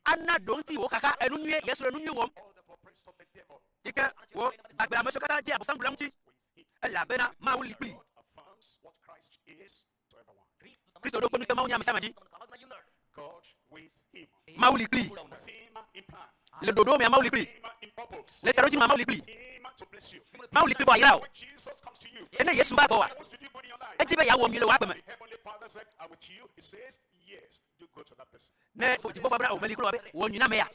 Ana ɖoŋti wò xaxa enu nyuie, Yesu le nu nyui wɔm. Yi ke wò gbagbe ame siwo katã dze Abosam ɖula ŋuti, elabena Mawu li kplii. Kristo ɖo kpe nu tso Mawu nya ame sia ame dzi. Mawu li kplii. Le ɖoɖo mea, Mawu li kplii. Le taɖodzi mea, Mawu li kplii. Mawu li kplii be wòayra wò. Ke ne Yesu va gbɔwòa, edi be yeawɔ nyui le wò agbe me. Ne fofodzikpɔkpɔ bena wòmeli kura o be wòwɔ nyui na amea,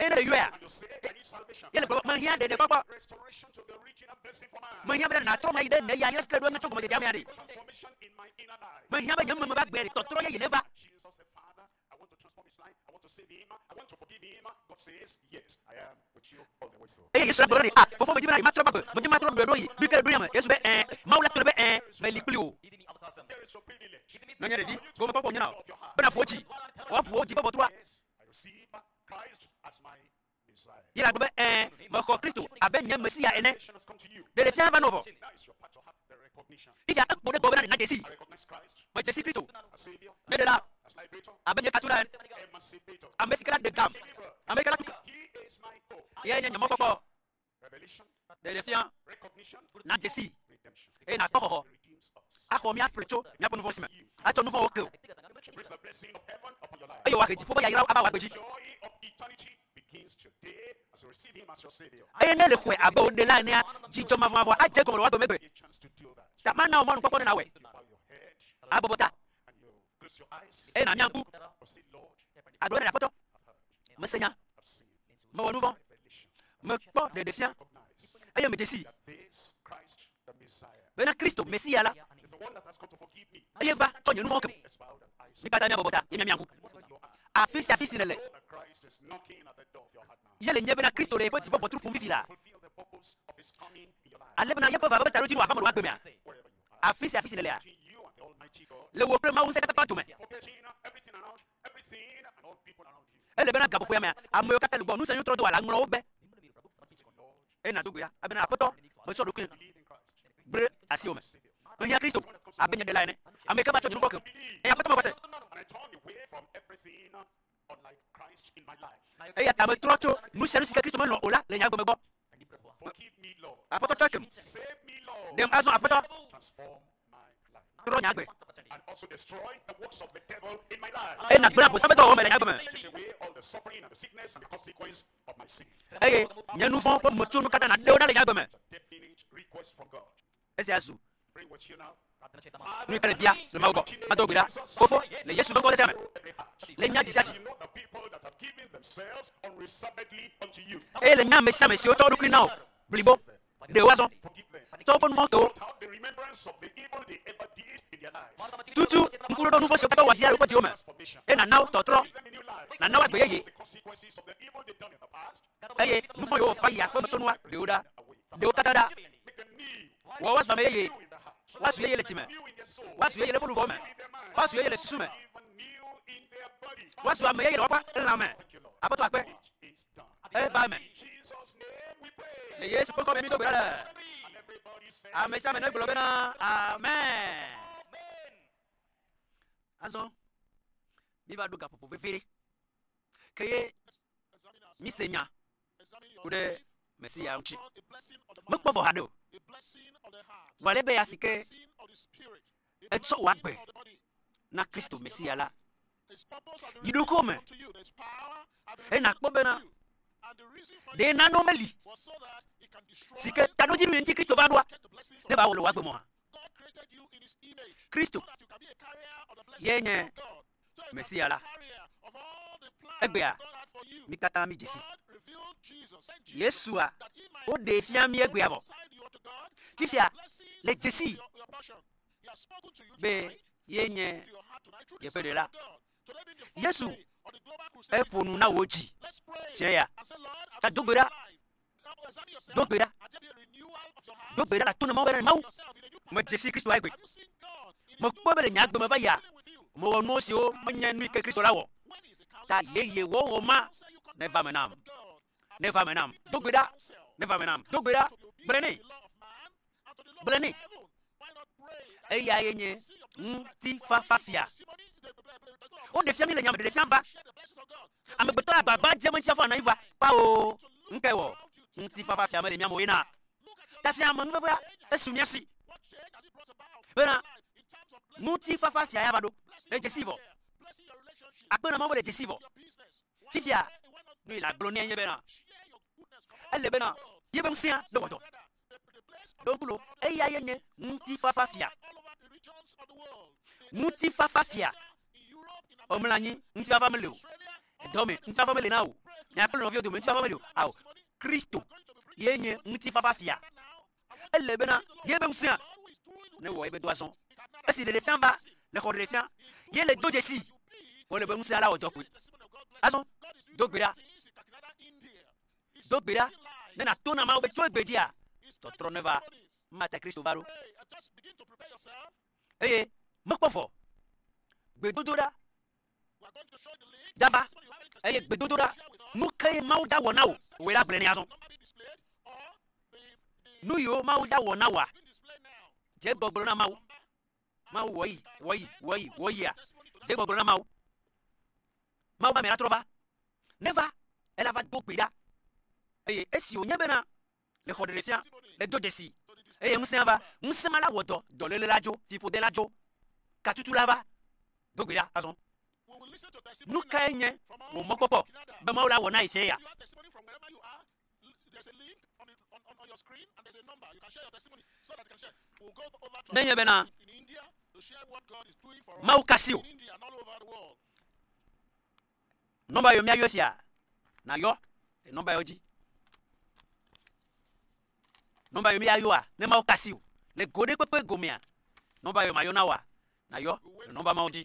eye ne èyɔea, ele gblɔm be, Mehiã ɖeɖekpɔkpɔ. Mehiã bena nàtrɔ ŋu ayi ɖe nye ya ɣe sia ɣi natsɔ gɔmedzedzea mea ɖe. Mehiã be nye meme va gbe tɔtrɔ yeye neva. Eye Yesu la gblɔ nɛ, A, Fofo, medi be na yematrɔ va gbe, medi be matrɔ ɖoɖoe ɖo yi, mi ke ɖoɖoe ya me. Yesu be, Ẽ, Mawu la to ɖe be, Ẽ, meli kpli wò. Nɔnye ɖevi, gomekpɔkpɔ nyo na wò, be nàƒo wò dzi, woaƒo wò dzi be ʋɔtrua. Ye la gblɔ be, Ẽ, mexɔ Kristo abe nye Mesia ene. Ɖeɖefia va nɔ vɔ. Fifia ekpɔ ɖe egbɔ bena nàɖe sii be dze si Kristo, nye Ɖela, abe nye tatula ene, ame si ke la ɖe gam, ame si ke la tu ke, yae nye nye mɔkpɔkpɔ. Ɖeɖefia nàdze sii eye nàkpɔ xɔxɔ axɔ mía ƒle tso míaƒe nuvɔ̃ si me, atsɔ nuvɔ̃wo ake wò eye wòahe dziƒo ƒe yayrawo ava wò agbe dzi. Eye ne nèxɔe abe wò ɖela enea, dzidzɔ mavɔmavɔ adze egɔme le wò agbemegbe. Ta mana wò mɔnukpɔkpɔ ne nàwɔe. Abɔbɔ ta, eye nàmia ŋku. Agblɔ be, Aƒetɔ, mese nya, mewɔ nuvɔ̃, mekpɔ ɖeɖefia, eye medze sii. bena Kristo, Mesia la, eye va tsɔ nye nu vɔ̃wo ke me. Mi katã mia bɔbɔ ta, ye mia mia ŋu. Afi sia afi si nèle, ye le nye bena Kristo le yeƒe dzi bɔbɔtru ƒom fifi la, ale bena yeƒe vava ƒe taɖodzinu wòava me wòagbe mea? Afi sia afi si nèlea, le wò kple Mawu Ŋusẽkatãtɔ la dome, Ele bena gaƒoƒoea mea, ameyiwo katã le gbɔ nu sia nu trɔdowɔla ŋlɔ wo be, eye nàdo gbe ɖa abena, Aƒetɔ, metsɔ ɖokuinye ɖe asiwò me. Mehiã Kristo abe nye Ɖela ene, ameyike va tsɔ nye nuvɔ̃ kem, eye Aƒetɔ mewɔ se. Eyata metrɔ tso nu sia nu sike Kristo melɔ̃ o la le nye agbe me gbɔ. Aƒetɔ tsakem, ɖem azɔ Aƒetɔ, trɔ nye agbe, eye nàgblẽ Abosam ƒe dɔwɔwɔ me le nye agbe me, eye nye nu vɔ̃ ƒe metsonu katã nàɖe wo ɖa le nye agbe me. Esia zu nuteƒe bia le Mawu gbɔ. Mado gbe ɖa, Fofo, le Yesu ƒe ŋkɔ ɖe sia me, le nya dzi sia dzi, eye le nya ame sia ame siwo tsɔ wo ɖokui na wò blibo, ɖe wo azɔ, tɔ woƒe nu vɔ̃ ke wo, tutu ŋku ɖoɖo nu vɔ̃ siwo katã wowɔ dzia le woƒe dziwo me, eye nàna wo tɔtrɔ, nàna wo agbe yeye. eye nu vɔ̃ yewo wɔƒe yi akpe metsonua ɖewo ɖa, ɖewo katã ɖa. Wɔ woazu ame yeye, woazu yeye le dzi me, woazu yeye le woƒe luʋɔwo me, woazu yeye le susu me, woazu ame yeye le woƒe lã me. Aƒetɔ akpe, eva eme. Le Yesu ƒe ŋkɔ me mído gbe ɖa le. Ame sia ame negblɔ bena, Amen. Azɔ, míva ɖo gaƒoƒo vevi ɖe. ke ye míse nya ku ɖe Mesia ŋuti. Mekpɔ vɔ haɖe o. Vɔ ale be ya si ke etsɔ wò agbe na Kristo Mesia la, yi ɖokuiwò me eye nàkpɔ bena ɖe nane meli si ke taɖodzinu ŋuti Kristo va ɖoa, ne eva wɔ le wò agbe me oa? Kristo ye nye Mesia la. Egbea, mí katã mídze si. Yesua, woɖee fia mí egbea vɔ. Fifia, le dzesii be ye nye yeƒe ɖela. Yesu, eƒo nu na wò dzi fia ya. Tsa do gbe ɖa. Do gbe ɖa. Do gbe ɖa le atonɔmɔ be Mawu, medze si Kristo egbe. Mekpɔe be le nye agbe me va yia, mewɔ nuwo siwo menye nu yi ke Kristo la wɔ. Ta yeye wɔwɔ ma neva eme nam. Neva eme nam. Do gbe ɖa. Neva eme nam. Do gbe ɖa. Gblɔe nɛ. Gblɔ nɛ. Eyae nye ŋutifafafia. Woɖe fia mí le nya me ɖeɖefia va. Amegbetɔ agbagba dze meŋtsia fɔ anɔ anyi va. Kpao, ŋkeke wɔ ŋutifafafia mele mía me o ye na tafiame nuvevea esu mía si bena ŋutifafafia ya va ɖo. Èdze sii vɔ? Akpɔe na Mawu be èdze sii vɔ. Fifia, nu yi nàgblɔ nɛ nye bena ele bena yeƒe ŋusẽa nawɔ dɔ. Ɖokuiɖoɖo, eyae nye Ŋutifafafia. Ŋutifafafia, ɔ, mlɔ anyi, ŋutifafa meli o. Edɔ me, ŋutifafa meli na wò o. Mia kple nɔviwò dome, ŋutifafa meli o. Ao, Kristo ye nye Ŋutifafafia. Ele bena ye be ŋusẽa newɔ ye be dɔ azɔ. Esi ɖeɖefia va le xɔ ɖeɖefia, ye le do dzesii, wòle be ŋusẽa la wɔ dɔ kpoe. Azɔ, do gbe ɖa. Do gbe ɖa ne nàto na Mawu be tso egbedzia, tɔtrɔ neva. Ema ta Kristo va ɖo. Eye mekpɔ vɔ. Gbedodoɖa dava eye gbedodoɖa nu kae Mawu dza wɔ na wò wòe la gblɔe nɛ azɔ. Nu yiwo Mawu dza wɔ na wòa, dze egbɔ gblɔ na Mawu. Mawu wɔ eyi, wɔ eyi, wɔ eyi, wɔ eyia. Dze gbɔgblɔ na Mawu. Mawu be ame la trɔ va. Neva, ela va do gbe ɖa. Eye esi wònye bena le xɔ ɖeɖefia, le do dzesi, eye ŋusẽa va, ŋusẽ ma la wɔ dɔ, dɔléle la dzo, fiƒode la dzo, katutu la va do gbe ɖa. Azɔ, nukae nye wò mɔkpɔkpɔ be Mawu la wɔ na ye tsɛa? Nenye bena Mawu kasi o. Nɔmba yɔ míayɔ sia nayɔ nɔmba yɔ dzi. Nɔmba yɔ míayɔa ne Mawu kasi o le go ɖe kpekpe gomea nɔmba yɔ mayɔ na woa nayɔ nɔmba mawo dzi.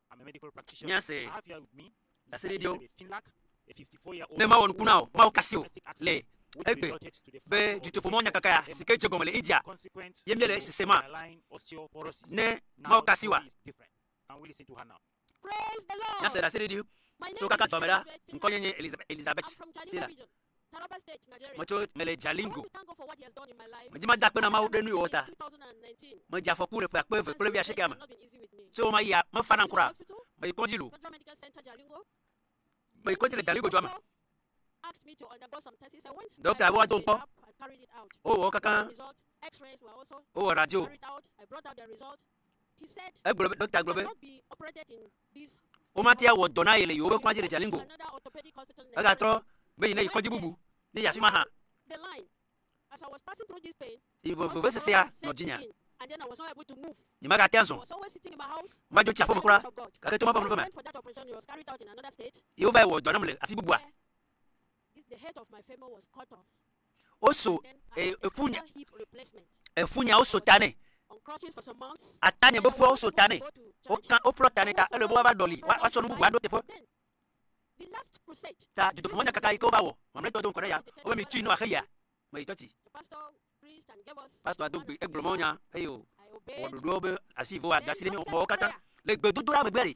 míase ɖaseɖiɖiwo ne mawɔ nuku na wò, mawo kasi wò le egbe be dutoƒomɔ nyakaka ya si ke dze gɔme le India ye míele sese ma ne mawo kasi wòa? Míase ɖaseɖiɖi siwo kaka dua me ɖa. Ŋkɔnye nye Elizabeth Taylor. Metso mele Jalingo. Medi mada akpe na Mawu ɖe nu yi wòwɔ ta. Medze afɔku le ƒe akpe eve kple wuiasiekea me. Tso ɣe ma ɣia, mefa nam kura o. Meyi kɔdzi loo. Meyi kɔdzi le Jalingo dua me. Ɖɔkita be woado ŋkpɔ. Wowɔ wo kakã. Wowɔ radio. Egblɔ be, Ɖɔkta gblɔ be womate awɔ dɔ na ye le yewoƒe kɔdzi le Jalingo o. Egatrɔ be yi ne yi kɔdzi bubu, ne yi afi ma hã. Yi ʋe vevesesea nɔ dzinye. Nyemagate azɔ. Madzo tsi aƒeme kura, gake to Mawu ƒe amenuveve me. Ye wova yi wɔ dɔ nam le afi bubua. woso e, efunya, efunya woso ta nɛ, atanye be fua woso ta nɛ, woka woƒlɔ ta nɛ ta ele be woava ɖɔli woatsɔ nu bubu aɖo teƒe. Ta dzidoƒemɔnyakaka yi ke wova wɔ mamlɛtɔ do ŋkɔ ɖe ya wobe mi tui ne wòaxe yia me yi tsɔti. Pastor do gbe egblɔ mɔnya eye o wɔ ɖoɖoawo be asi vɔ ada asi ɖe mɔwo katã le gbedodoɖa megbe ɖi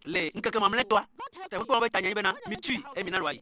le ŋkeke mamlɛtɔa. Teƒe kpɔ be tanya yi bena mitui eye mina lɔayi.